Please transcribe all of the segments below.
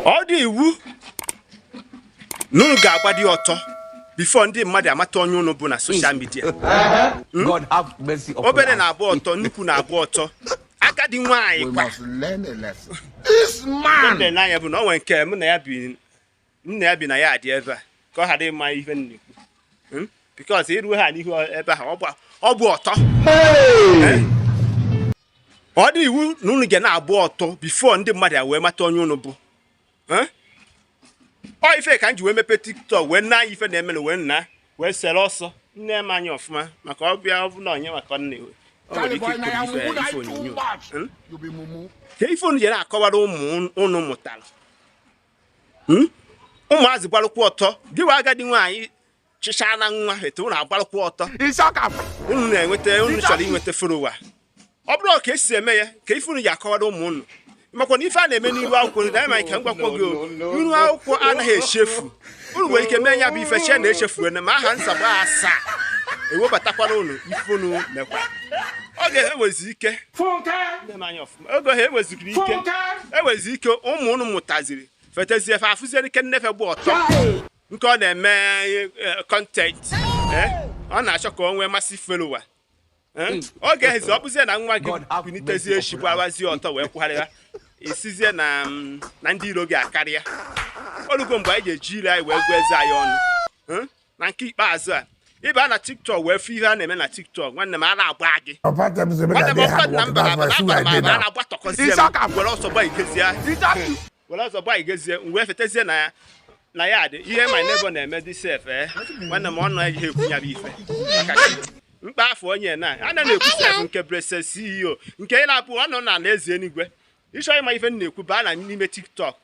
ọ dị iwu na unu ga-agbadị ọtọ before ndị mmadụ amata onye unu bụ na social media hmm? obere na-agba ọtọ nnukwu na-agba ọtọ agadi nwaanyị kwanụ nya bụ na o nwere nke mụ na ya bi na ya bi na yard ebe a ka ọ ghara ịma ihe m na-ekwu hmm? because i ruo ha n'ihu ebe ahụ ọ bụ ọtọ eh? ọ dị iwu na unu ga na-agba ọtọ before ndị mmadụ ewee mata onye unu bụ eh? ọ ife ka m ji wee mepee tiktok wee nee ife na-eme na wee nna wee sere ọsọ nee m anya ọfụma maka ọ bịa ọ bụ na onye maka nne ka ife unu jere akọwara ụmụ unu mụtara hmm? ụmụazị gbalụkwa ọtọ gịwa agadi nwaanyị chịcha na nwa etu unu agbalụkwa ọtọ unu na-enweta unu chọrọ inweta follower ọ bụrụ ka e si eme ya ka ife unu ji akọwara ụmụ unu makwa na ife a na-eme n'iru akwụkwọ nri danyị ka m gwakwa gị iru akwụkwọ anaghị echefu unu nwere ike mee ya bụ ife chee na echefuwe na ma aha nsagbu asaa ewebatakwara unu ife unu mekwa oge ahụ enwezi ike oge ahụ enweziri ike enwezi ike ụmụ unu mụtaziri fetezie fa afụzie ike nne fa bụ ọtọ nke ọ na-eme content eh, eh, ọ na-achọ ka o nwee massive follower eh, hmm. oge ahụzi ọ bụzie na nwa gị kunitezie echi gbawazie ọtọ wee kwugharịa ị sizie na mm, ndị iro gị akarịa o lugo mgbe anyị ga-eji ire anyị wee gụọ eze anyị ọnụ na nke ikpeazụ a ị baa na tiktok wee fụ ihe a na-eme na tiktok nwanne m ara agba gị were ọsọ gba igezie wee fetezie na ya na yard ihe my neighbor na-eme dị sef ee eh? nwanne m ọnụ ejighị ekwu ya bụ ife mkpa afọ onye na a na-ekwu sef nke blessing ceo nke ị na-abụ ọnụ na ala eze enigwe ị chọọ ịma ife m na-ekwu baa na n'ime tiktok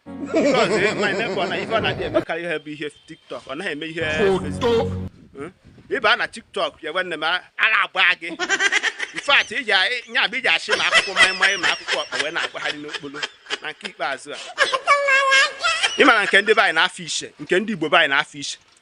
because eh, my neighbor na ife ọ na-adị emekarị ihe bụ ihe tiktok ọ naghị eme ihe Facebook. Hmm? ị baa na tiktok ya nwanne m ara agba gị in fact iji nya bụ iji achị ma akwụkwọ maịmaị ma akwụkwọ ọkpa wee na-akpagharị n'okporo na nke ikpeazụ a ị mara nke ndị be anyị na-afọ ishe nke ndị igbo be anyị na-afọ ishe